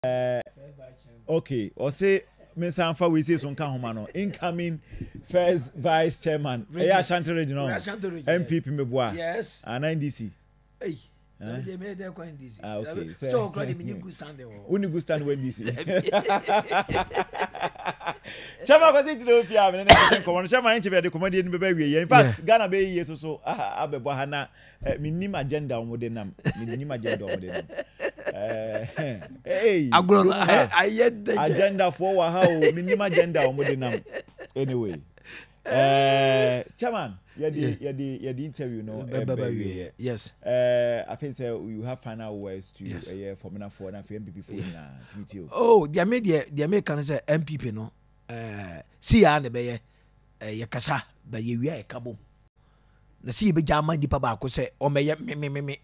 Uh, okay, or say Mr. Anfa we say some kind humano. Incoming first vice chairman. Region. Yeah, Ashanti region. No. Ashanti region. MPP yes. Mebua. Yes. And ah, NDC. Hey. Huh? They made their coin DC. Ah, okay. So, so crowd me good stand there. Only good stand when DC. Chama ko sit no pia me na ko no chama nche be de komadi ni be be wie. In fact, Ghana be yeso so ah abebo ha na Eh, menim agenda a wɔde nam. Menim agenda a wɔde nam. Eh, agorɔ no ayɛ dɛ. Agendafoɔ wɔ ha o, menim agenda a wɔde nam. Anyway, eh, chairman, yɛde yɛde yɛde interview no ɛbɛ wie. Yes. Eh, I think sɛ you have final words to ɛyɛ fɔminafoɔ na afei MPP foɔ nyinaa tumi ti o. Oh, deɛ me deɛ deɛ me ka no sɛ MPP no, eh, si yaa na ɛbɛyɛ, eh, yɛ kasa, ba yɛ wia yɛ ka bom. Na sɛ yɛbɛgya ama nipa baako sɛ ɔmmɛyɛ memememe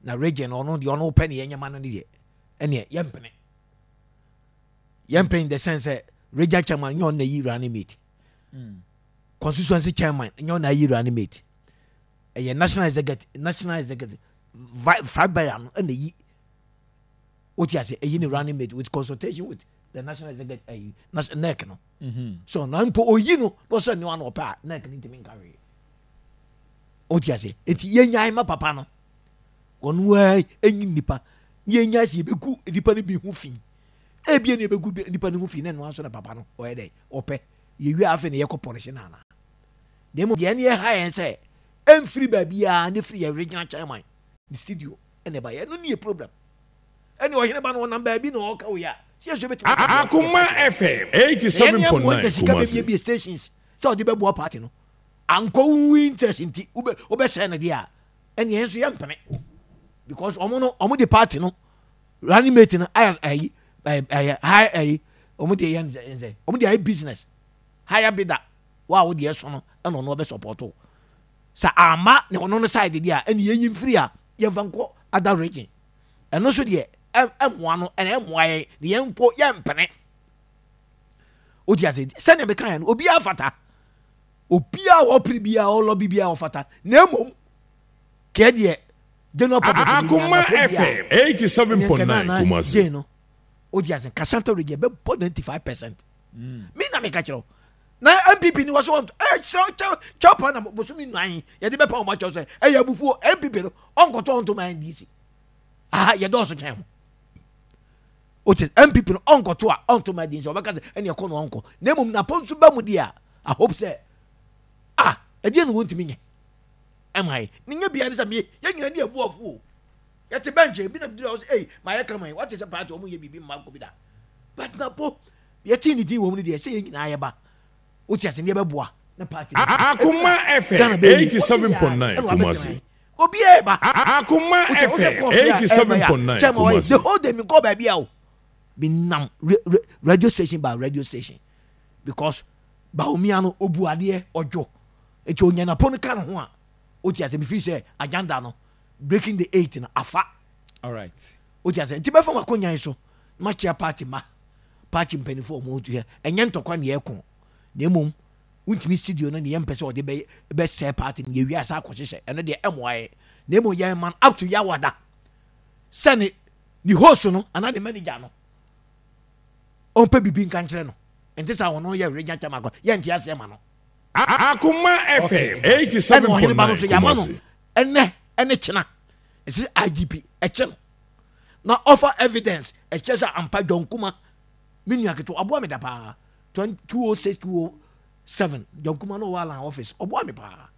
na region ɔno deɛ ɔno pɛ ne yɛnyɛ ma no ne deɛ ɛneɛ yɛmpene yɛmpene in the sense sɛ region chairman nyɛ ɔno na yi running mate hmm. constituency chairman nyɛ ɔno na yi running mate ɛyɛ national executive national executive five bear no ɛna yi o ti ase eyi ni mm-hmm. running mate with consultation with the national executive ɛyi eh, national nec no mm-hmm. so na mpo oyi no na ɔsɛ ne wa na ɔpɛ a nec no ntumi nka hwee o ti ase eti yɛ nyaa ɛma papa no wɔn wɛɛ enyi nipa yɛ nyaa si ebe gu nipa no bi ho fi ebien na ebe gu nipa no ho fi na ɛno aso na papa no ɔyɛ dɛ ɔpɛ yɛ wi afɛ na yɛ kɔ pɔlisi na ana na emu yɛn yɛ ha yɛn sɛ ɛnfiri baabi a ne firi yɛ regional chairman ne studio ɛna ɛba yɛ ɛno nie problem ɛne ɔhene ba no ɔnam baabi na ɔka wo yɛ a sɛ yɛsɛ bɛtumi aka bia ɔde Akoma party FM ɛyɛ ne ɛne amoa nka 87.9 sika Kumasi. bɛbiabia stations sɛ ɔde bɛboa party no ankɔ wo interest nti wobɛ wobɛsɛe no deɛ a ɛne yɛn nso yɛmpene because ɔmo no ɔmo de party no running mate no ayɛ ayi ɛyɛ ɛyɛ high ayi ɔmo de yɛ nsɛ nsɛ ɔmo de ayɛ business higher bidder wo a wo deɛ so no ɛna ɔno ɔbɛ support wo Sɛ amma ne ɔno no side deɛ a ɛne yɛnyi mfiri a yɛmfa nkɔ other region. Ɛno nso deɛ ɛmmoa no ɛna ɛmmoa yɛn na yɛn mpo yɛmpene. Wodi ase sɛnea meka yɛn no obiara fata. Obiara wɔ pere biara ɔlɔ bi biara ɔfata na mmom kɛɛ deɛ general public deɛ nyɛ na pere biara ɛnyɛ nkɛ na na gye no. Wodi ase Kasanta region bɛbɔ 95 percent. Me na meka kyerɛ wo na npp ni wɔ so wɔntɔ ɛyɛ kyerɛw kyɛw kyɛw pa na bosomi nnan yi yɛde bɛpa wɔn akyɛw sɛ ɛyɛ abufuo npp no ɔnkɔtɔ ɔnto ma ndc aha yɛdɔɔso kyɛn ho wote npp no ɔnkɔto a ɔnto ma ndc ɔbɛka sɛ ɛne ɛkɔ no ɔnkɔ na mmom napɔ nso ba mu deɛ a i hope sɛ ah ɛdeɛ no wɔntumi nyɛ ɛma yɛ ne nyɛ bia ne sɛ meyɛ yɛn nyina ne abu afuo yɛte bɛnkyɛ ebi na bidura ɔsɛ ei ma yɛ kama yi wate sɛ paati ɔmo yɛ biribi mma kɔ bi da but napɔ Yɛte ne din wɔ mu no deɛ sɛ yɛn nyinaa yɛba wote ase ne yɛbɛboa na party no aba. Akoma ɛfɛ Ghana bɛyɛ yie. Wote 87.9 yɛn a ɛna wabɛtena Kumasi. yɛn. Obiara ɛba. Akoma Wote ɛfɛ wohwɛ kɔɔso yɛ a ɛma yɛ a 87.9 kyɛn ma wɔyɛ the Kumasi. whole day menkɔɔ baabi a o. Menam re re radio station by radio station because Bawumia no obu adeɛ ɔdwo nti onya n'apo no ka ne ho a wote ase mefeel sɛ agenda no breaking the eight no afa. Alright. Wote aseɛ? Nti bɛfa w'akonwa yi so na makyea party ma party mpanimfoɔ a wɔn yɛ ɛnyɛ ntɔkwa na yɛko na mmom wontumi studio no na yɛmpɛ sɛ ɔde bɛ bɛsɛɛ party no yɛwie asa akɔhyehyɛ ɛno deɛ ɛmmoa yɛ na mmom yɛn man up to yawada sɛ ne ne host no anaa ne manager no ɔmpɛ biribi nka nkyerɛ no ɛnte saa wɔn yɛ region kyɛm akɔ yɛnte aseɛ ma no Akoma FM 87.9 Kumasi ɛnɛ ɛne kyena Ɛsɛ sɛ IGP kyɛ no na ɔfa evidence ɛkyɛ sɛ ampa John Kuma me nua ketewa ɔboa me da paa 206 207 John Kuma no ɔwɔ Alan office ɔboa me paa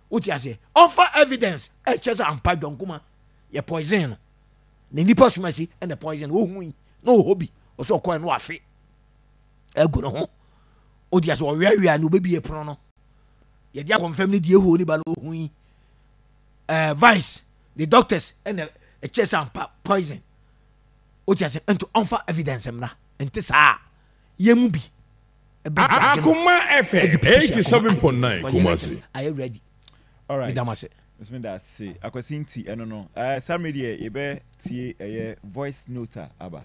wote aseɛ ɔfa evidence ɛkyɛ sɛ ampa John Kuma yɛ poison no na nipa soma si ɛna poison ɔhu yi na ɔhɔ bi ɔsɛ ɔkɔɛ no afe agu ne ho wote aseɛ ɔweawea ne ɔbɛbie pono no yɛde akɔmfam no deɛ ɛhoo ne ba no ɔhu yi eh, vice the doctors ɛna ɛkyerɛ sɛ ampa poison wote ase nti ɔmfa evidence mmra nti saa yɛ mu bi akoma ɛfɛ 87.9 kumase ayɛ ready alright medam ase mesome da ase akwasi nti ɛno no uh, saa mmere deɛ yɛbɛtie ɛyɛ voice note a aba